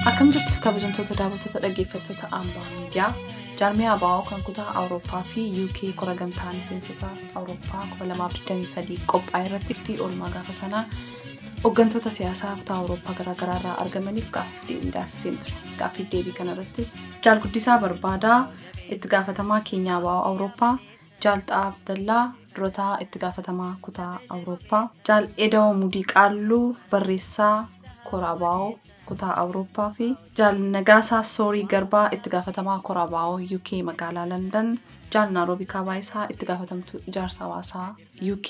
Akkam jirtu kabajamtoota daawwattoota dhaggeeffattoota Ambaa Miidiyaa jaarmiyaa Abaa'oo kan kutaa Awurooppaa fi UK kora gamtaa miseensota Awurooppaa 2023 qophaa'e irratti itti oolmaa gaafa sanaa hooggantoota siyaasaa kutaa Awurooppaa garaagaraa irraa argamaniif gaaffiif deebii taasiseen ture. Gaaffiif deebii kanarrattis jaalguddisaa barbaadaa itti gaafatamaa keenyaa Abaa'oo Awurooppaa Jaal Xa'aa Abdallaa, Dura Ta'aa Itti Gaafatamaa Kutaa Awurooppaa. Jaal Edawo Mudii Qaalluu, Barreessaa Kora Abaawoo Kutaa Awurooppaa fi Jaal Nagaasaa Soorii Garbaa, Itti Gaafatamaa Kora Abaawoo UK Magaalaa Landan, Jaal Naaroobii Kaabaayisaa, Itti Gaafatamtuu Ijaarsa Hawaasaa UK,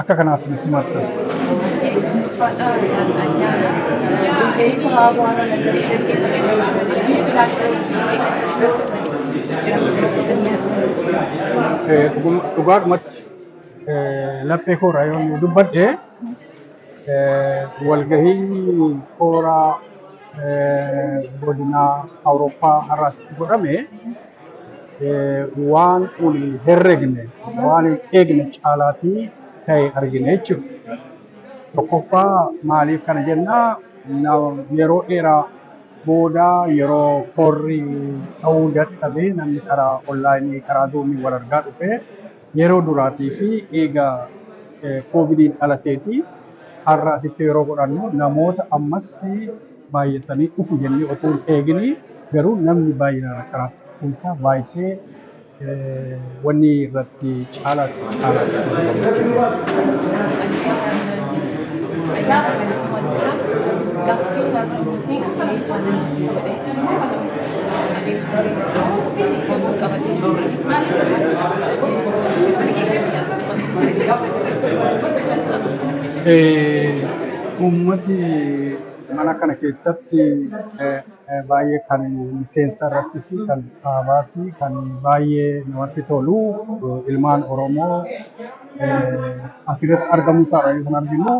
akka kanaatti ni simattan. Eh, dhugum- Dhugaadhumatti eh, laphee kooraa yoo nu dubbadhe eh, walgahii kooraa eh, godinaa Awurooppaa har'aasitti godhame waan kun hin herregne waan hin eegne caalaatii ta'e argine jechuudha. Tokkoffaa maaliif kana jennaa yeroo dheeraa booda yeroo korri ta'uu dadhabee namni karaa onlaayinii karaa zoomii wal argaa dhufe yeroo duraatii fi eega koovidiin dhalateetii har'a asitti yeroo godhannu namoota ammas baay'atanii dhufu jennee otoo hin eegini garuu namni baay'inaan akka raabtumsaa baay'isee wanni irratti caalaatti caalaatti gammachiise. Uummati Mana kana keessatti baay'ee kan miseensa irrattis kan kaabaas kan baay'ee namatti tolu ilmaan Oromoo asirratti argamuu isaadha yoo kan arginu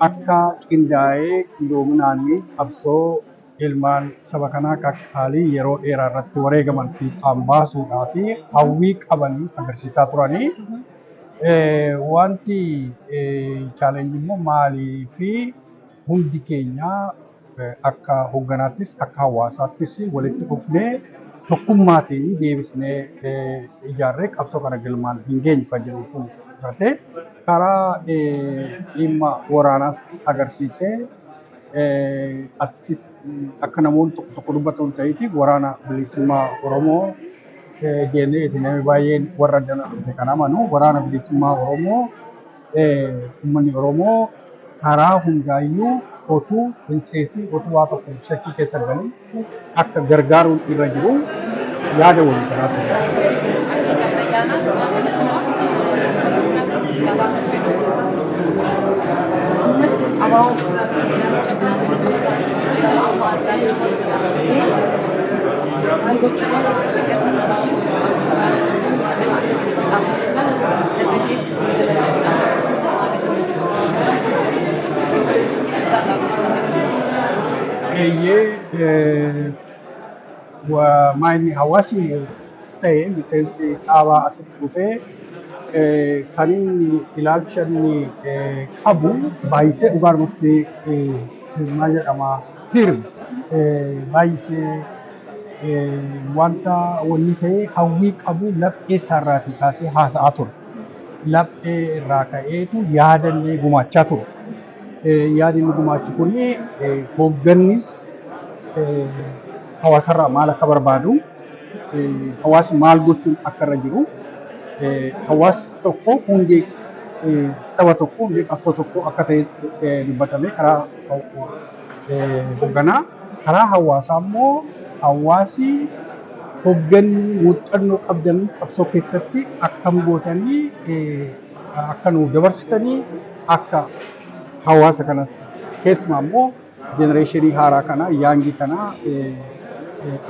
akka qindaa'ee qindoominaan qabsoo ilmaan saba kanaa qaqqaalii yeroo dheeraa irratti wareegaman fiixaan baasuudhaa fi hawwii qaban agarsiisaa turanii wanti chaalenji immoo maalii fi hundi keenya akka hoogganaattis akka hawaasaattis walitti dhufnee tokkummaatiin deebisnee ijaarree qabsoo kana galmaan hin geenyu kan jedhu kun irratti karaa dhimma waraanaas agarsiisee Arsi akka namoonni tokko tokko dubbatan ta'eeti waraana bilisummaa Oromoo jennee itti namni baay'een warra addana dhufe kan amanu waraana bilisummaa Oromoo uummanni Oromoo karaa hundaayyuu otuu hin seesiin otuu waa tokko shakkii keessa hin galin akka gargaaruun irra jiru yaada walii galaa ture. Thank you. Eeyyee maayini hawaasi ta'e miseensi dhaabaa asitti dhufee kan inni ilaalcha inni qabu baay'isee dhugaa irratti maal jedhama firm baay'isee wanta wanni ta'e hawwii qabu laphee isaarraatii kaasee haasa'aa ture. Laphee irraa ka'eetu yaadallee gumaachaa ture. Yaadi inni gumaachu kun hooggannis hawaasarraa maal akka barbaadu, hawaasni maal gochuun akka irra jiru, hawaasni tokko hundee saba tokkoo, hundee qabsoo tokkoo akka ta'es dubbatamee karaa hoogganaa. Karaa hawaasaa immoo hawaasi hoogganni muuxannoo qabdanii qabsoo keessatti akkam gootanii akka nuuf dabarsitanii akka hawaasa kanas keessumaa immoo jenereeshinii haaraa kana yaangii kana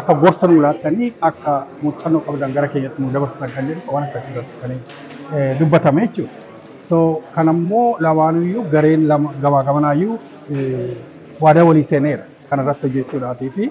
akka gorsa nuu laattanii akka muuxannoo qabdan gara keenyatti nuu dabarsitan kan jedhu waan akkasii irratti kan dubbatame jechuudha. So kan ammoo lamaanuyyuu gareen lama gamaa gamanaayyuu waadaa walii seeneera kan irratti hojjechuudhaatii fi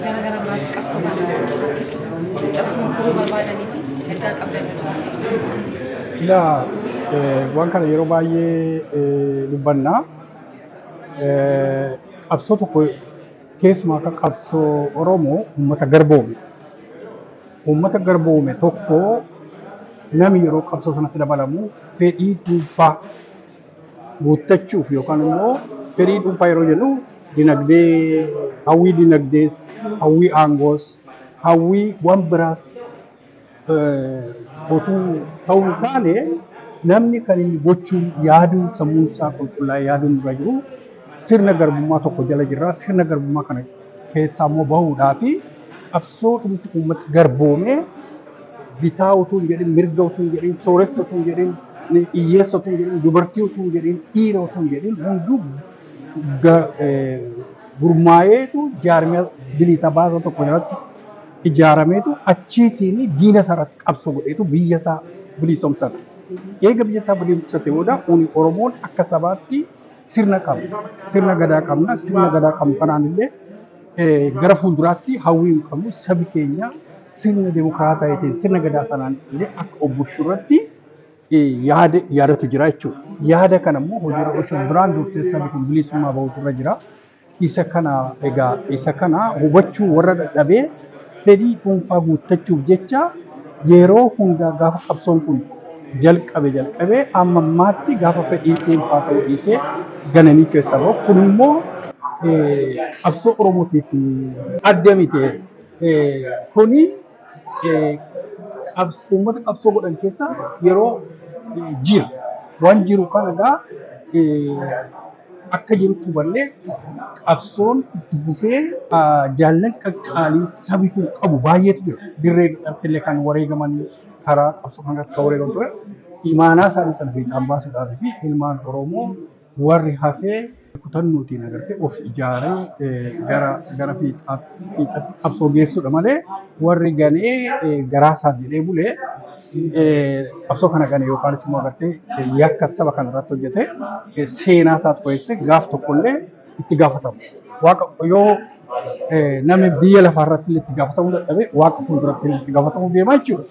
gara gara biraatti qabsoo kana harkisuu caccabsuu kutuu barbaadanii fi ergaa qabdan hojjetan. Ilaa waan kana yeroo baay'ee dubbanna. Qabsoo tokko keessumaa akka qabsoo Oromoo uummata garboome. Uummata garboome tokko namni yeroo qabsoo sanatti dabalamu fedhii dhuunfaa guuttachuuf yookaan immoo firii dhuunfaa yeroo jennu dinagdee hawwii dinagdees hawwii aangoos hawwii waan biraas otuu ta'uu hin taane namni kan inni gochuun yaaduu sammuun isaa qulqullaa'ee yaaduun irra jiru sirna garbummaa tokko jala jirra sirna garbummaa kana keessaa immoo bahuudhaa fi qabsoo dhumti uummata garboomee bitaa utuu hin jedhin mirga utuu hin jedhin sooressa utuu hin jedhin hiyyeessa utuu hin jedhin dubartii utuu hin jedhin dhiira utuu hin jedhin hunduu gurmaa'eetu jaarmiyaa bilisa baasa tokko jalatti ijaarameetu achiitiin diina isaarratti qabsoo godheetu biyya isaa bilisoomsate. Eega biyya isaa bilisoomsate booda uuni Oromoon akka sabaatti sirna qabna. Sirna gadaa qabna. Sirna gadaa qabnu kanaan illee eh, gara fuulduraatti hawwii hin qabnu sabi keenya sirna demokraataa ta'eetiin sirna gadaa sanaan illee akka obbushu irratti eh, yaada yaadatu jira jechuudha. Yaada kana immoo hojiirra oolchuun duraan dursee sabi kun bilisummaa bahuutu irra jira. Isa kana egaa isa kana hubachuu warra dhadhabee fedhii dhuunfaa guuttachuuf jecha yeroo hundaa gaafa qabsoon kun jalqabe jalqabee amma ammaatti gaafa fedhiin dhuunfaa ta'uu dhiisee gananii keessa bahu kun immoo qabsoo Oromootiif adda miti kuni uummata qabsoo godhan keessaa yeroo jiru waan jiru kana egaa akka jirutti hubannee qabsoon itti fufee jaallan qaqqaaliin sabi kun qabu baay'eetu jira. Dirree dhaltillee kan wareegaman karaa qabsoo kanarratti kan wareegaman ture. Imaanaa isaanii sana fiixaan baasuudhaaf fi ilmaan Oromoo Warri hafe kutannootiin agartee of ijaaree gara gara fiixaatti fiixatti qabsoo geessudha malee warri ganee garaasaaf jedhee bule qabsoo kana gane yookaanis immoo agartee yakka saba kana irratti hojjete seenaa isaa qo'eesse gaaf tokkollee itti gaafatamu. Waaqa yoo namni biyya lafaa irratti itti gaafatamuu dadhabe waaqa fuulduratti itti gaafatamuu deema jechuudha.